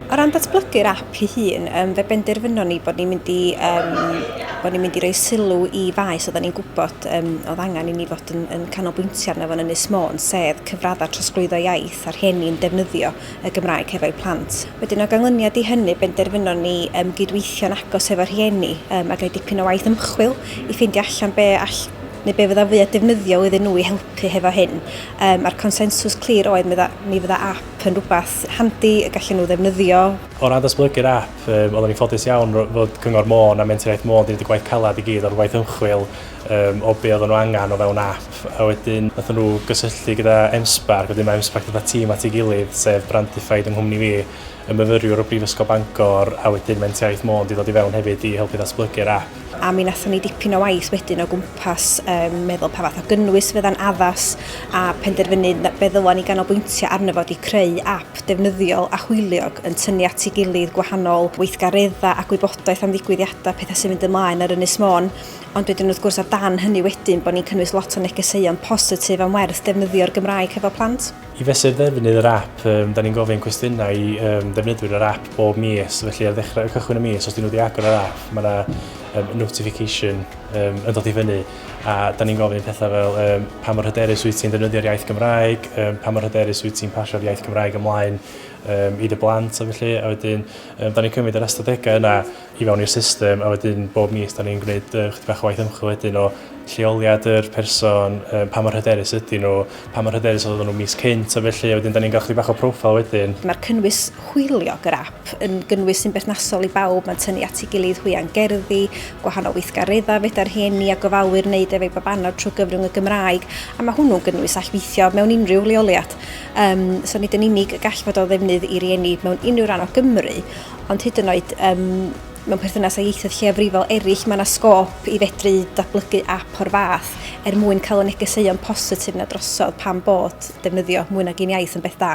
O ran datblygu'r app ei hun, um, fe benderfynon ni bod ni'n mynd i um, bod ni'n mynd i roi sylw i faes oedden ni'n gwybod um, oedd angen i ni fod yn, yn canolbwyntio arno fo'n Ynys Môn, sef cyfraddau trosglwyddo iaith a'r rhieni yn defnyddio y Gymraeg hefo'u plant. Wedyn o ganlyniad i hynny, benderfynon ni um, gydweithio'n agos hefo'r rhieni um, a gael dipyn o waith ymchwil i ffeindio allan be all neu be fyddai'n fwyaf defnyddiol iddyn nhw i helpu hefo hyn. Um, a'r consensws clir oedd mi fydda app yn rhywbeth handi y gallen nhw ddefnyddio. O ran datblygu'r app, um, oeddwn i'n ffodus iawn fod Cyngor Môn a Mentraiaeth Môn wedi gwneud y gwaith calad i gyd o'r gwaith ymchwil um, o be oedden nhw angen o fewn app. A wedyn, nath nhw gysylltu gyda MSPARC, wedyn mae MSPARC gyda tîm at ei gilydd, sef Brandified yng nghwmni fi, y myfyriwr o Brifysgol Bangor, a wedyn Mentraiaeth Môn wedi dod i fewn hefyd i helpu ddatblygu'r app. a mi wnaethon ni dipyn o waith wedyn o gwmpas um, meddwl pa fath o gynnwys fydda'n addas a penderfynu fe ddylan ni ganolbwyntio arno fod i creu app defnyddiol a hwyliog yn tynnu at ei gilydd gwahanol weithgareddau a gwybodaeth am ddigwyddiadau pethau sy'n mynd ymlaen ar Ynys Môn ond wedyn wrth gwrs o dan hynny wedyn bod ni'n cynnwys lot o negeseuon positif am werth defnyddio'r Gymraeg hefo plant. I fesur ddefnydd yr ap, um, da ni'n gofyn cwestiynau i um, ddefnyddwyr yr ap bob mis, felly ar ddechrau y cychwyn y mis, os dyn nhw wedi agor yr ap, mae yna um, notification um, yn dod i fyny, a da ni'n gofyn pethau fel um, pa mor hyderus wyt ti'n ddefnyddio'r iaith Gymraeg, um, pa mor hyderus wyt ti'n pasio'r iaith Gymraeg ymlaen um, i dy blant, a felly, a wedyn, um, da ni'n cymryd yr ystadegau yna, i fewn i'r system a wedyn bob mis da ni'n gwneud yy chydig bach o waith ymchwil wedyn o lleoliad yr person, yy, pa mor hyderus ydyn nhw, pa mor hyderus oedden nhw mis cynt a felly, a wedyn da ni'n cael chydig bach o profile wedyn. Mae'r cynnwys hwyliog yr ap yn gynnwys sy'n berthnasol i bawb, mae'n tynnu at ei gilydd hwya'n gerddi, gwahanol weithgareddau fedar rhieni a gofalwyr wneud efo'u babanod trwy gyfrwng y Gymraeg, a mae hwnnw'n gynnwys all weithio mewn unrhyw leoliad. Um, so nid yn unig y gall fod o ddefnydd i rieni mewn unrhyw ran o Gymru, ond hyd yn oed um, mewn perthynas â ieithoedd lleiafrifol eraill, mae yna sgôp i fedru datblygu ap o'r fath er mwyn cael y negeseuon positif na drosodd pan bod defnyddio mwy nag un iaith yn beth da.